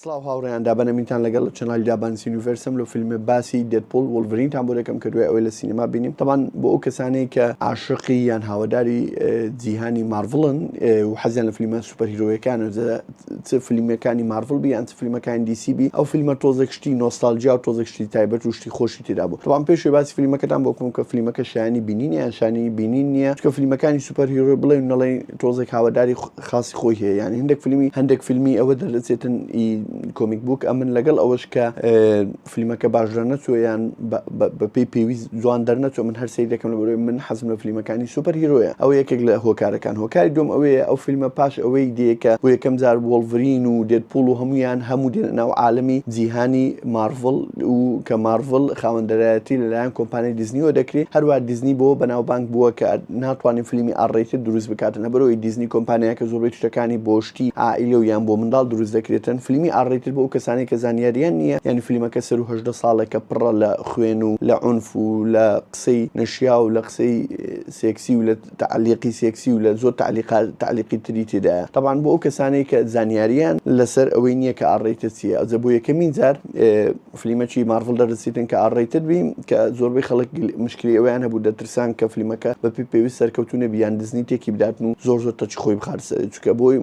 سڵاو هاوڕێیان دابەنەمینتان لەگەڵ لە چەنالی دابان سینیڤەرسم لە فیلمە باسی دەپۆل وڵڤرینتان بۆ دەکەم کە دوای ئەوەی لە سینەما بینیم تەمان بۆ ئەو کەسانەیە کە عاشقی یان هاواداری جیهانی مارڤڵن و حەزیان لە فیلمە سوپەرهیرۆیەکان و چ فیلمەکانی مارڤڵ بیان چ فیلمەکان دیسیبی ئەو فیلمە تۆزێک شتی نۆستالجیا و تۆزێک شتی تایبەت و شتی خۆشی تێدا بوو تەوان پێشێ باسی فیلمەکەتان بۆ کوم کە فیلمەکە شانی بینینیان شانی بینین نییە کە فیلمەکانی سوپەرهیرۆی بڵێن نەڵێن تۆزێک هاواداری خاسی خۆی هەیە یانی هەندێک فیلمی هەندێک فیلمی ئەوە دەردەچێتن ئی کۆمیک بووک ئەمن لەگەڵ ئەوەش کە فیلمەکە باشرە نەچۆیان بەپی پێویست جوان دەرنەچۆ من هەر سری دەکەم لە بەرەوەی من حەزم لە فیلمەکانی سوپەر هیرۆیە ئەو یەکێک لە هۆکارەکان هۆکاری دوم ئەوەیە ئەو فیلمە پاش ئەوەی دیکە بۆ یەکەم جار وڵڤرین و دێت پوڵ و هەمویان هەموو دێنە ناو عاالمی جیهانی مارڤڵ و کە مارڤڵ خاوەندەرایەتی لەلایەن کۆمپانی دیزنیوە دەکری هەروە دیزنی بۆ بەناوبانگ بووە کە ناتوانێت فلیمی ئاڕ رەیتد دروست بکات لەبەرئەوەی دیزنی کۆمپانیاکە زۆربەی تشتەکانی بۆ شتی عائیلە و یان بۆ منداڵ دروست دەکرێتن فلیمی ئاڕ رەیتد بۆ ئەو کەسانەی کە زانیاریان نییە یانی فلیمەکە سەروو هەژدە ساڵە کە پڕە لە خوێن و لە عونف و لە قسەی نەشیاو و لە قسەی سێکسی و لە تەعلیقی سێکسی و لە زۆر تەعلیقا تەعلیقی تری تێدایە تەبعەن بۆ ئەو کەسانەی کە زانیاریان لەسەر ئەوەی نییە کە ئاڕ رەیتد چییە ئەوجە بۆ یەکەمین جار فلیمەکی مارڤڵ دەرسیتن کە ئاڕەیتد بی کە زۆربەی خەڵک مشکلی ئەوەیان هەبوو دەترسان کە فلیمەکە بە پێی پێویست سەرکەوتوو نەبی یان دزنی تێکی بداتن و زۆر زۆر تەچی خۆی بخات سەر چکە بۆی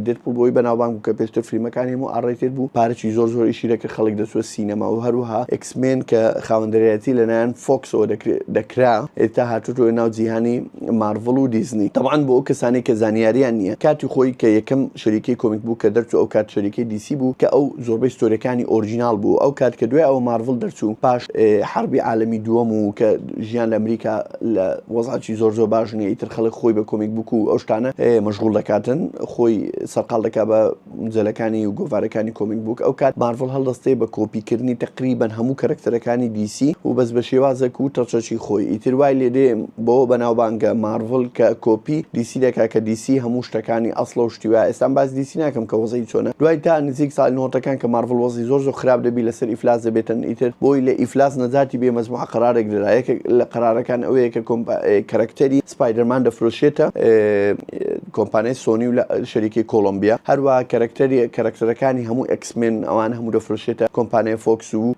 دێتپوڵ بۆی بەناوبانگ بوو کە پێشتر فلیمەکانی هەموو ئاڕەیتد بوو پارەکی زۆر زۆر ئیشی دەکرد خەڵک دەچووە سینەما و هەروەها ئێکس مێن کە خاوەندەرایەتی لەلایەن فۆکسەوە دەکرێت دەکرا ئێستا هاتووە ناو جیهانی مارڤڵ و دیزنی تەبعەن بۆ ئەو کەسانەی کە زانیاریان نیە کاتی خۆی کە یەکەم شەریکەی کۆمیک بووک کە دەرچوو ئەو کات شەریکەی دی سی بوو کە ئەو زۆربەی ستۆریەکانی ئۆرجیناڵ بوو ئەو کات کە دوای ئەوە مارڤڵ دەرچوو پاش حەربی عالەمی دووەم و کە ژیان لە ئەمریکا لە وەزعی زۆر زۆر باش نیە ئیتر خەڵک خۆی بە کۆمیک بووک و ئەو شتانە مەژغوڵ دەکاتن خۆی سەرقاڵ دەکا بە مجەلەکانی و گۆڤارەکانی کۆمیک بووک ئەو کات مارڤڵ هەڵدەستێ بە کۆپی کردنی تەقریبەن هەموو کەرەکتەرەکانی دی سی و بەس بە شێوازەک و تەچەکی خۆی ئیتر وای لێ دێ بەوە بەناوبانگە مارڤڵ کە کۆپی دی سی دەکا کە دی سی هەموو شتەکانی ئەسڵە و شتی وایە ئێستام باس دی سی ناکەم کە وەزعی چۆنە دوای تا نزیک ساڵی نۆتەکان کە مارڤڵ وەزعی زۆر زۆر خراپ دەبی لەسەر ئیفلاس دەبێتن ئیتر بۆی لە ئیفلاس نەجاتی بێ مەجموعە قەرارێک دەدا یەکێک لە قەرارەکان ئەوەیە کە کۆمپ کەرەکتەری سپایدەرمان دەفرۆشێتە کۆمپانیای سۆنی و لە شەریکەی کۆڵۆمبیا هەروەها کەرەکتەری کەرەکتەرەکانی هەموو ئێکس مێن ئەوان هەموو دەفرۆشێتە کۆمپانیای فۆکس و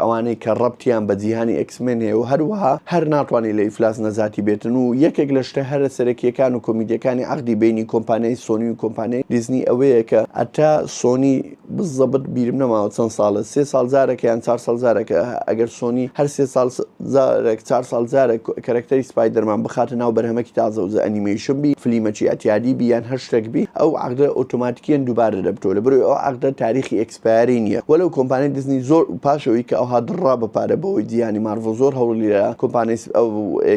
ئەوانەی کە ڕەبتیان بە جیهانی ئێکس مێن هەیە و هەروەها هەر ناتوانی لە ئیفلاس نەجاتی بێتن و یەکێک لە شتە هەرە سەرەکییەکان و کۆمیدییەکانی عەقدی بەینی کۆمپانیای سۆنی و کۆمپانیای دیزنی ئەوەیە کە هەتا سۆنی بزەبت بیرم نەماوە چەند ساڵە سێ ساڵ جارەکە یان چار ساڵ جارەکە ئەگەر سۆنی هەر سێ ساڵ جارەک چار ساڵ جارەک کەرەکتەری سپایدەرمان بخاتە ناو بەرهەمەکی تازەوە جا ئەنیمەیشن بی فلیمەکی ئەتیادی بی یان هەر شتەک بی ئەو عەقدە ئۆتۆماتیکیەن دووبارە دەبتەوە لەبەرەوەی ئەو عەقدە تاریخی ئێکسپایەری نیە وەلەو کۆمپانیای دیزنی زۆر پاش ئەوەی کە ئەوها دڕڕا بە پارە بەوەی دیانی مارڤڵ زۆر هەوڵی دا کۆمپانیای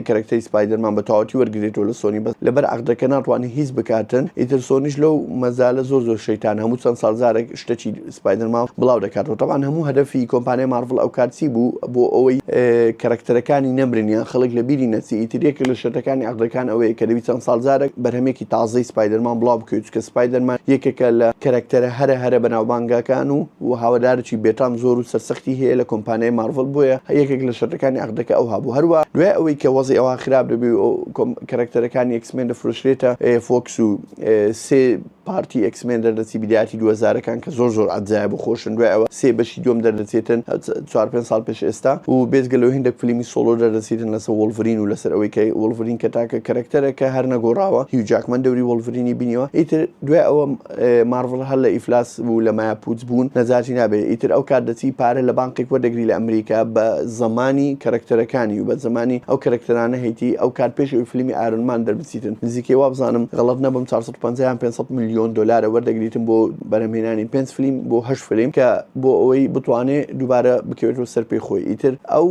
کەرەکتەری سپایدەرمان بە تەواوەتی وەرگرێتەوە لە سۆنی بەس لەبەر عەقدەکە ناتوانن هیچ بکاتن ئیتر سۆنیش لەو مەجالە زۆر زۆر شەیتانە هەموو چەند ساڵ جارێک شتەکی سپایدەرمان بڵاو دەکاتەوە تەبعەن هەموو هەدەفی کۆمپانیای مارڤڵ ئەوکات چی بوو بۆ ئەوەی کەرەکتەرەکانی نەمرن یان خەڵک لە بیری نەچی ئیتر یەکێک لە شەرتەکانی عەقدەکان ئەوەیە کە دەبی چەند ساڵ جارێک بەرهەمێکی تازەی سپایدەرمان بڵاو بکەوی چونکە سپایدەرمان یەکێکە لە کەرەکتەرە هەرە هەرە بەناوبانگەکان و و هاوادارێکی بێتام زۆر و سەرسەختی هەیە لە کۆمپانیای مارڤڵ بۆیە یەکێک لە شەرەکانی عەقدەکە ئەوها بوو هەروەها دوای ئەوەی کە وەزعی ئەوها خراپ دەبێ و کەرەکتەرەکانی ئێکسمێن دەفرۆشرێتە فۆکس و سێ پارتی ئێکسمێن دەردەچی بدایەتی دوو هەزارەکان کە زۆر زۆر عەجایب و خۆشن دوای ئەوە سێ بەشی دووەم دەردەچێتن چوار پێنج ساڵ پێش ئێستا و بێجگە لەوە هێندێک فلیمی سۆڵۆ دەردەچێتن لەسەر وۆڵڤرین و لەسەر ئەوەی کە وۆڵڤرین کە تاکە کەرەکتەرە کە هەر نەگۆڕاوە هیو جاکمەن دەوری وۆڵڤرینی بینیوە ئیتر دوای ئەوە مارڤڵ هەر لە ئیفلاس بوو لە مایا پووچ بوون نەجاتی نابێت ئیتر ئەو کات دەچی پارە لە بانقێک وەردەگری لە ئەمریکا بە زەمانی کەرەکتەرەکانی و بە زەمانی ئەو کەرەکتەرانە هەیتی ئەو کات پێش ئەوی فلیمی ئایرۆن مان دەربچیتن نزیکەی وابزانم غەڵەت نەبم چوار سەد و پەنجا یان پێنج سەد ملیۆن دۆلارە وەردەگریتن بۆ بەرهەمهێنانی پێنج فلیم بۆ هەشت فلیم کە بۆ ئەوەی بتوانێ دووبارە بکەوێتەوە سەر پێی خۆی ئیتر ئەو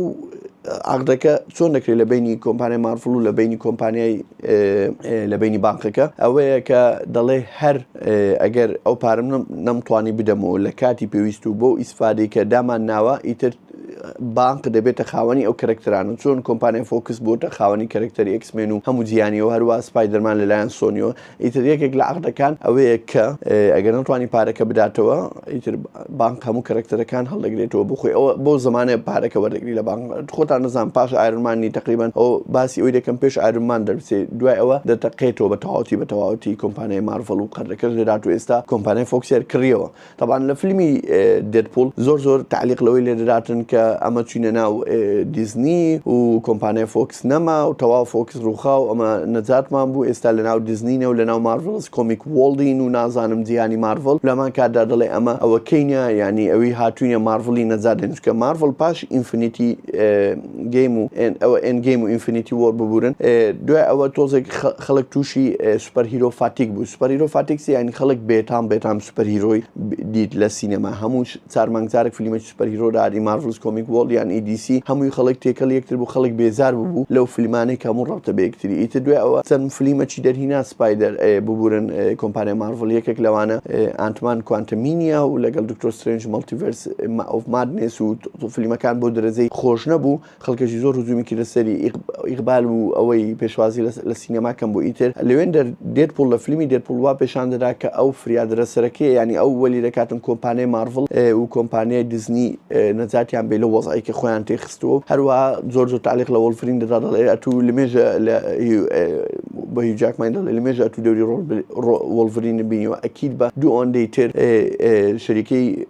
عەقدەکە چۆن دەکرێت لە بەینی کۆمپانیای مارڤڵ و لە بەینی کۆمپانیای لە بەینی بانقەکە ئەوەیە کە دەڵێ هەر ئەگەر ئەو پارەم نەمتوانی بدەمەوە لە کاتی پێویست و بۆ ئیسفادەی کە دامان ناوە ئیتر بانق دەبێتە خاوەنی ئەو کەرەکتران و چۆن کۆمپانیای فۆکس بۆتە خاوەنی کەرەکتەر ئەکسمێن و هەموو جیانی و هەروە سپای دەرمان لەلایەن سۆنیەوە ئیتر یەکێک لە عقدەکان ئەوەیە کە ئەگەر نەتوانی پارەکە بداتەوە ئیتر بانک هەموو کەرەکتەرەکان هەڵدەگرێتەوە بخۆی ئەوە بۆ زمانە پارەکە وەردەگری لە بانک خۆتان نزان پاش ئارمانی تقریبان ئەو باسی ئەوی دەکەم پێش ئارمان دەربچێ دوای ئەوە دەتەقێتەوە بە تەواوتی بە تەواوتی کۆمپانیای مارڤڵ و قەردەکەش لێرات و ئێستا کۆمپانیای فۆکسێر کڕیەوە تاوان لە فیلمی دێتپول زۆر زۆر تعلیق لەوەی لێدراتن کە ئەمە چینە ناو دیزنی و کۆمپانیای فۆکس سنەما و تەواو فۆکس ڕووخا و ئەمە نەجاتمان بوو، ئێستا لەناو دیزنینە و لەناو مارڤڵس کۆمیک وۆڵدین و نازانم جیهانی مارڤڵ لە هەمان کاتدا دەڵێ ئەمە ئەوەکەینە یانی ئەوی هاتووینە مارڤڵی نەجات دەین چونکە مارڤڵ پاش ئینفنیتی گەیم و ئەوە ئێند گەیم و ئینفنیتی وۆر ببورن دوای ئەوە تۆزێک خەڵک تووشی سوپەر هیرۆ فاتیک بوو سوپەر هیرۆ فاتیک چیە یانی خەڵک بێتام بێتام سوپەر هیرۆی دیت لە سینەما هەموو چار مانگ جارێک فلیمێکی سوپەرهیرۆ داری مارڤڵس کۆمیک وۆڵد یان ئی دی سی هەمووی خەڵک تێکەڵی یەکتر بوو خەڵک بێزار ببوو لەو فلیمانەی کە هەموو ڕەبتە بە یەکتری ئیتر دوای ئەوە چەند فلیمەکی دەرهینا سپایدەر ئەی ببورن کۆمپانیای مارڤڵ یەکێک لەوانە ئانت مان کوانتەمینیا و لەگەڵ دکتۆر سترەینج مەڵتیڤەرس ئۆف مادنێس و فلیمەکان بەو دەرەجەی خۆش نەبوو خەڵکەشی زۆر هجومی کردە سەری ئیقبال و ئەوەی پێشوازی لە سینەما کەم بۆ ئیتر لەوێن دەر دێت پوڵ لە فلمی دێت پوڵ وا پێشان دەدا کە ئەو فریادرە سەرەکەیە یانی ئەو وەلی دەکاتن کۆمپانیای مارڤڵ و کۆمپانیای دیزنی نەجاتیان بێ لە وەزعی کە خۆیان تێ خستووە و هەروە زۆر زۆر تالیق لە وەڵفرین دەدا دەڵێ ئەتو لە مێژە لە بە هیچ جاکمانی دەڵێ لە مێژە ئەتو دەوری ڕۆڵ وەڵفرین بینیوە ئەکید بە دوو ئەوەندەی تر شەریکەی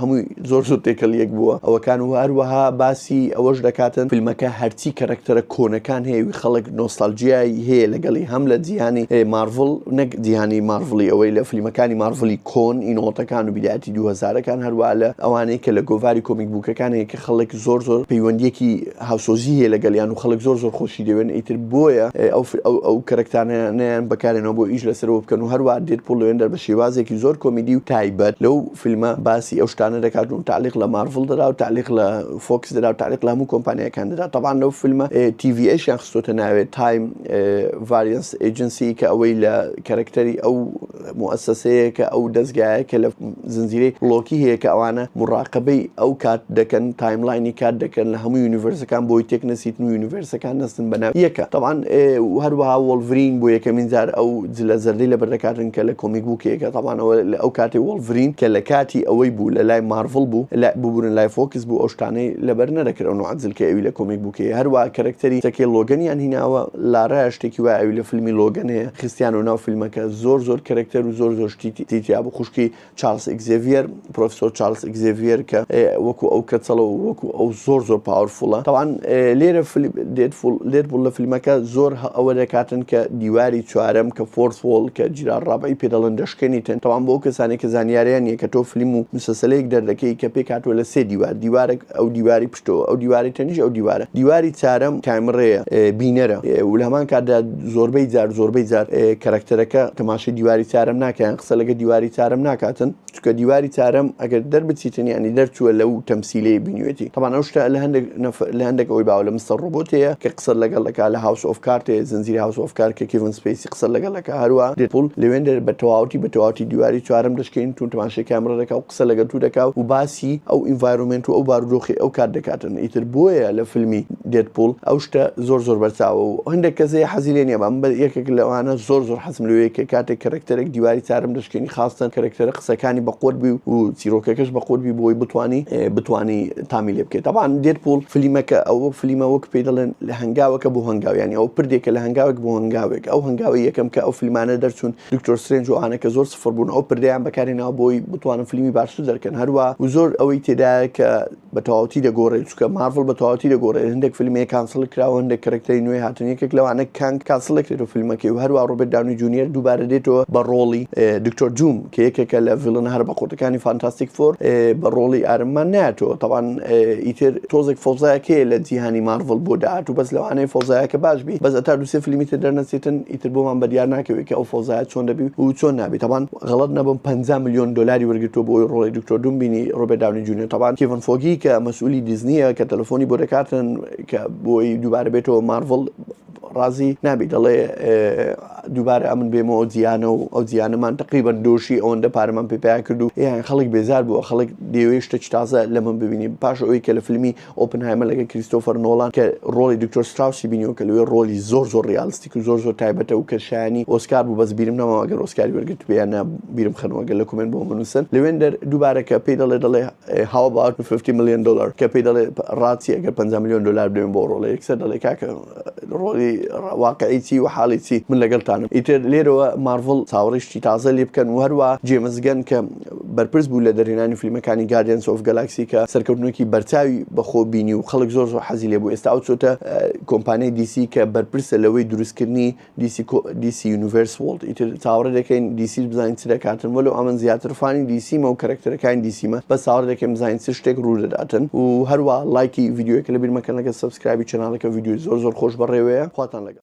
هەمووی زۆر زۆر تێکەڵ یەک بووە ئەوەکان و هەروەها باسی ئەوەش دەکاتن فیلمەکە هەرچی کەرەکتەرە کۆنەکان هەیە و خەڵک نۆستالجیای هەیە لەگەڵی هەم لە جیهانی مارڤڵ نەک جیهانی مارڤڵی ئەوەی لە فلیمەکانی مارڤڵی کۆن ی نەوەتەکان و بیدایەتی دوو هەزارەکان هەروەها لە ئەوانەی کە لە گۆڤاری کۆمیک بووکەکان هەیە کە خەڵک زۆر زۆر پەیوەندییەکی هاوسۆزی هەیە لەگەڵیان و خەڵک زۆر زۆر خۆشی دەوێن ئیتر بۆیە ئەو ئەو کەرەکتانەیان بەکارێنەوە بۆ ئیش لەسەرەوە بکەن و هەروەها دێدپوڵ لەوێندا بە شێوازێکی زۆر کۆمیدی و تایبەت لەو فیلمە باسی ئەو شتانە دەکات و تەعلیق لە مارڤڵ دەدا و تەعلیق لە فۆکس دەدا و تەعلیق لە هەموو کۆمپانیاکان دەدا تەبعەن لەو فیلمە تی ڤی ئەیشیان خستۆتە ناوێ تایم ڤاریەنس ئێجنسی کە ئەوەی لە کەرەکتەری ئەو موسسەیە کە ئەو دەستگایە کە لە زنجیرەی لۆکی هەیە کە ئەوانە مراقبەی ئەو کات دەکەن تایملاینی کات دەکەن لە هەموو یونیڤرسەکان بۆی تێک نەسیتن و یونیڤرسەکان نەستن بەناو یەکە تەبعەن هەروەها وەڵڤرین بۆ یەکەمین جار ئەو جلە زەردەی لەبەر دەکاتن کە لە کۆمیک بووکێکە تابان ئەوە لە ئەو کاتی وۆڵڤرین کە لە کاتی ئەوەی بوو لە لای مارڤڵ بوو لە ببورن لای فۆکس بوو ئەو شتانەی لەبەر نەدەکرد ئەو نوعە جل کە ئەوی لە کۆمیک بووکێ هەروا کەرەکتەری تەکەی لۆگەنیان هیناوە لارایە شتێکی وای ئەوی لە فیلمی لۆگەن هەیە خستیانەوە ناو فیلمەکە زۆر زۆر کەرەکتەر و زۆر زۆر شتی تیتیا بوو خوشکی چارلس ئیگزێڤیەر پرۆفسۆر چارلس ئیگزێڤیەر کە وەکو ئەو کەچەڵە و وەکو ئەو زۆر زۆر پاورفوڵە تاوان لێرە لێت بوو لە فیلمەکە زۆر ئەوە دەکاتن کە دیواری چوارم کە فۆرس وۆڵ کە جیرا ڕابعی پێدەڵن دەشکێنیتن تاوان بۆ کەسانی کە زانیاریان نیە کە تۆ فیلم و مسەسەلەیەک دەردەکەی کە پێکاتوە لە سێ دیوار دیوارێک ئەو دیواری تۆ ئەو دیوارەی تەنیش ئەو دیوارە دیواری چارەم کامڕەیە بینەرە و لە هەمان کاتدا زۆربەی جار زۆربەی جار کەرەکتەرەکە تەماشای دیواری چارەم ناکەیان قسە لەگە دیواری چارەم ناکاتن چکە دیواری چارەم ئەگەر دەربچیتن ینی دەرچووە لەو تەمسیلەی بینوێتی تەمان ئەو شتە لە هەندێک لە هەندێک ئەوی باوە لە مستەر ڕۆبۆتەیە کە قسە لەگەڵ لەکە لە هاوس ئۆف کارتێ زنجیری هاوس ئۆف کار کە کیڤن سپیسی قسە لەگەڵ لەکە هەروە دێپول لەوێن دەر بە تەواوەتی بە تەواتی دیواری چارم دەشکین تون تەماشای کامرە دەکە قسە لەگەل تو دەکا و باسی ئەو ئینڤایرۆمێنت و ئەو بارودۆخی ئەو کات دەکاتن ئیتر بۆیە لە فلمی دێد پوڵ ئەو شتە زۆر زۆر بەرچاوە و هەندێک کەس هەیە حەزی لێ نیە بەم یەکێک لەوانە زۆر زۆر حەزم لۆیە کە کاتێک کەرەکتەرێک دیواری چارم دەشکێنی خاستەن کەرەکتەرە قسەکانی بە قوەت بی و چیرۆکەکەش بە قوەت بی بۆی بتوانی بتوانی تامی لێ بکەی تەبان دێد پوڵ فلیمەکە ئەو وەک فلیمە وەک پێی دەڵێن لە هەنگاوەکە بۆ هەنگاو یانی ئەو پردێکە لە هەنگاوێک بۆ هەنگاوێک ئەو هەنگاوە یەکەم کە ئەو فلمانە دەرچوون دکتۆر سترێنج و ئەوانە کە زۆر سفر بوون ئەو پردەیان بەکارهێناوە بۆی بتوانن فلیمی باشتر دەرکەن هەروا و زۆر ئەوەی تێدایە کە بە تەواوتی دەگۆرێت چونکە مارڤڵ بە تەواوتی دەگۆرێت هەندێک فلم هەیە کانسڵ کراوە هەندێک کەرەکتەری نوێ هاتن یەکێک لەوانە کانگ کانسڵ دەکرێتەوە فلمەکەی و هەروا ڕۆبێت داونی جونیەر دووبارە دێتەوە بە ڕۆڵی دکتۆر دووم کە یەکێکە لە ڤیڵنە هەرە بە قوتەکانی فانتاستیک فۆر بە ڕۆڵی ئارممان ناتەوە تاوان ئیتر تۆزێک فۆزایەکەیە لە جیهانی مارڤڵ بۆ داهات و بەس لەوانەیە فۆزایەکە باش بی بەس ئەتا دوسێ فلیمی تر دەرنەچێتن ئیتر بۆمان بەدیار ناکەوێت کە ئەو فەوزایە چۆن دەبی و چۆن نابی تەبان غەڵەت نەبم پەنجا ملیۆن دۆلاری وەرگرتووە بۆ ئەوەی ڕۆڵی دکتۆر دووم بینی ڕۆبێرت داونی جونیۆر تەبان کیڤن فۆگی کە مەسئولی دیزنیە کە تەلەفۆنی بۆ دەکاتن کە بۆی دووبارە بێتەوە مارڤڵ ڕازی نابی دەڵێ دووبارە ئەمن بێمەوە ئەو جیانە و ئەو جیانەمان تقریبان دۆشی ئەوەندە پارەمان پێپیا کرد و یان خەڵک بێزار بووە خەڵک دەیەوێ شتە تازە لە من ببینی پاش ئەوەی کە لە فیلمی ئۆپنهایمەر لەگەڵ کریستۆفەر نۆڵان کە ڕۆڵی دکتۆر ستراوسی بینیوە کە لەوێ ڕۆڵی زۆر زۆر ڕیالستیک و زۆر زۆر تایبەتە و کە شایەنی ئۆسکار بوو بەس بیرم نەماوە ئەگەر ئۆسکاری وەرگرتبێ یان نا بیرم خەنەوە گەر لە کومێنت بۆم بنووسن لوێندەر دووبارە کە پێی دەڵێ دەڵێ How about 50 million dollar کە پێی دەڵێ ڕاچی ئەگەر پەنجا ملیۆن دۆلار بدەمێ بۆ ڕۆڵە یەکسەر دەڵێ کاکە ڕۆڵی واقعی چی و حاڵی چی من لەگەڵتانم ئیتر لێرەوە مارڤڵ چاوەڕێی شتی تازە لێ بکەن و هەروا جێمس گەن کە بەرپرس بوو لە دەرهێنانی فلیمەکانی Guardians of Galaxy کە سەرکەوتنێکی بەرچاوی بەخۆ بینی و خەڵک زۆر زۆر حەزی لێبوو ئێستا ئەو چۆتە کۆمپانیای DC کە بەرپرسە لەوەی دروستکردنی DC DC Universe World ئیتر چاوەڕێ دەکەین DC بزانین چ دەکاتن وەلو ئەمن زیاتر فانی DC مە و کەرەکتەرەکانی DC مە بە چاوەڕێ دەکەین بزانین چ شتێک ڕوو دەداتن و هەروە لایکی ڤیدیۆیەکە لەبیر مەکەن لەگە سەبسکرایبی چەناڵەکە ڤیدیۆی زۆر زۆر خۆش بەڕێوەیە خواتان لەگەڵ